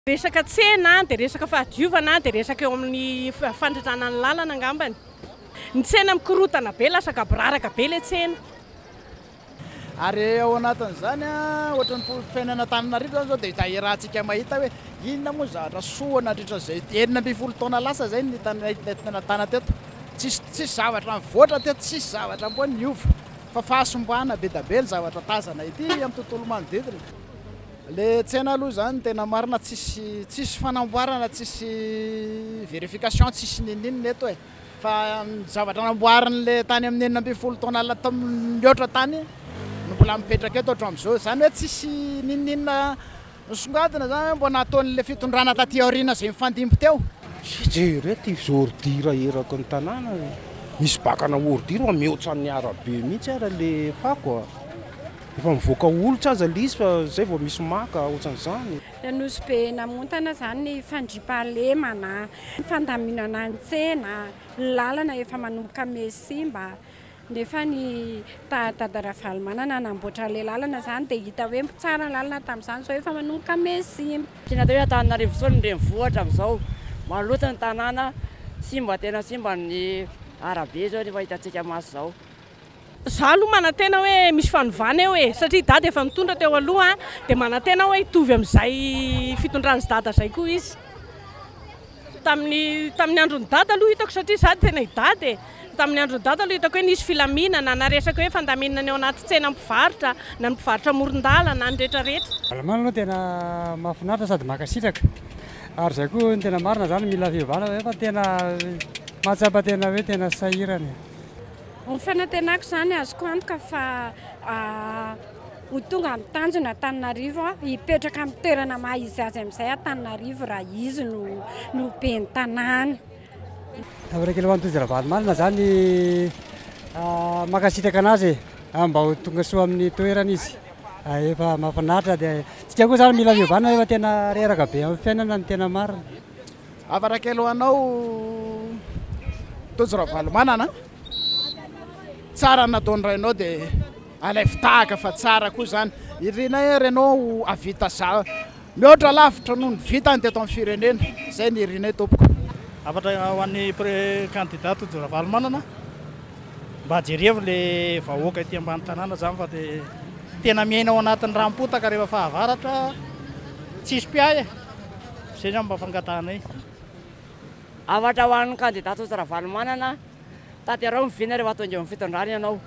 Resaka tsena dia resaka fahadiovana dia resaka eo amin'ny fandrindrana ny lalana angambany. Ny tsena mikorotana be, lasa gaboraraka be ilay tsena. Ary ao anatin'izany ohatra ny fiainana Antananarivo izany izao dia iharantsika mahita hoe inona moa zavatra soa nandritra izay enina ambin'ny folo taona lasa izay no hitanay nahitana teto. Tsisy tsisy zavatra nivoatra teto, tsisy zavatra mboa niova fa fahasimbana be dia be ny zavatra tazana ety amin'ny tontolo manodidina. Le tsena aloha zany tena marina tsisy tsisy fanamboarana tsisy verification tsisy ninininona eto e fa ny zavatra namboariny le tany amin'ny enina ambin'ny folo taona la tam mihoatra tany no mbola mipetraka eto hatramin'izao zany hoe tsisy ninininona nisongadina zany hoe mbo nataon'le fitondrana taty aoriana zay mifandimby teo. Tsy jery eto izy ordure eraky ny tanàna e. Misy bakana ordure mihoatra ny arabe mihitsy ara le fako a. Efa mivoaka holitra aza le izy fa zay vao misy maka otran'izany. Nosy be namontana izany ny fandriampahalemana, ny fandaminana ny tsena, ny lalana efa manomboka me sy simba, nefa ny dada Ravalomanana namboatra ilay lalana izany dia hita hoe tsara ny lalana tamin'izany, izao efa manomboka me sy simba. Tsy natao hoe Antananarivo intsony ny renivohitra amin'izao, maloto ny tanàna, simba tena simba ny arabe izao, efa hitantsika maso izao. Za aloha manantena hoe misy fanovana eo e, satria i Dada efa nitondra teo aloha dia manantena aho hoe hitovy amin'izay fitondran'i Dada izay koa izy. Tamin'ny tamin'ny andron'i Dada aloha hitako satria za tena i Dada e, tamin'ny andron'i Dada aloha hitako hoe nisy filaminana na resaka hoe fandaminana eo anaty tsena mpivarotra na ny mpivarotra amoron-dalana na ny rehetra rehetra. Malemana aloha tena mahafinaritra sady mankasitraka ary izay koa no tena marina zany mila fiovana fa tena mahatsapa tena hoe tena sahirana e. Ny fanantenako izany, azoko antoka fa ho tonga amin'ny tanjona Antananarivo, hipetraka amin'ny toerana maha izy azy amin'izay Antananarivo raha izy no no ben'ny tanàna. Misaotra ho an'i Tojo Ravalomanana izany, mankasitraka an'azy e, mba ho tonga soa amin'ny toerany izy, efa mahafinaritra, dia isika koa izany mila fiovana fa tena reraka be amin'ny fiainana no tena marina. Hafatra kely ho anao Tojo Ravalomanana, tsara ny nataon'ny rainao dia alaivo tahaka fa tsara koa izany, iriana ery ianao hahavita za mihoatra lavitra noho ny vitany teto amin'ny firenena, izay no irianay tompoko. Hafatra ho an'ny Kandida Tojo Ravalomanana, mba jerevo le vahoaka ety ambany tanàna izany fa dia tena miaina ao anatin'ny ranom-potaka rehefa fahavaratra, tsisy mpiahy e! Zay zany mba fangatahanay. Hafatra ho an'ny kandida Tsotsi Ravalomanana, tanterao ny vina rehefa tonga eo amin'ny fitondrana ianao.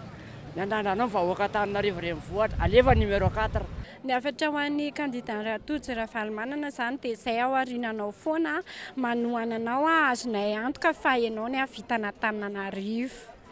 Ny andrandranao ny vahoaka Antananarivo renivohitra. Alefa ny numéro quatre. Ny hafatra ho an'ny kandida Tojo Ravalomanana izany dia izay aoriana anao foana manohana anao azonay antoka fa ianao ny hahavitana Antananarivo.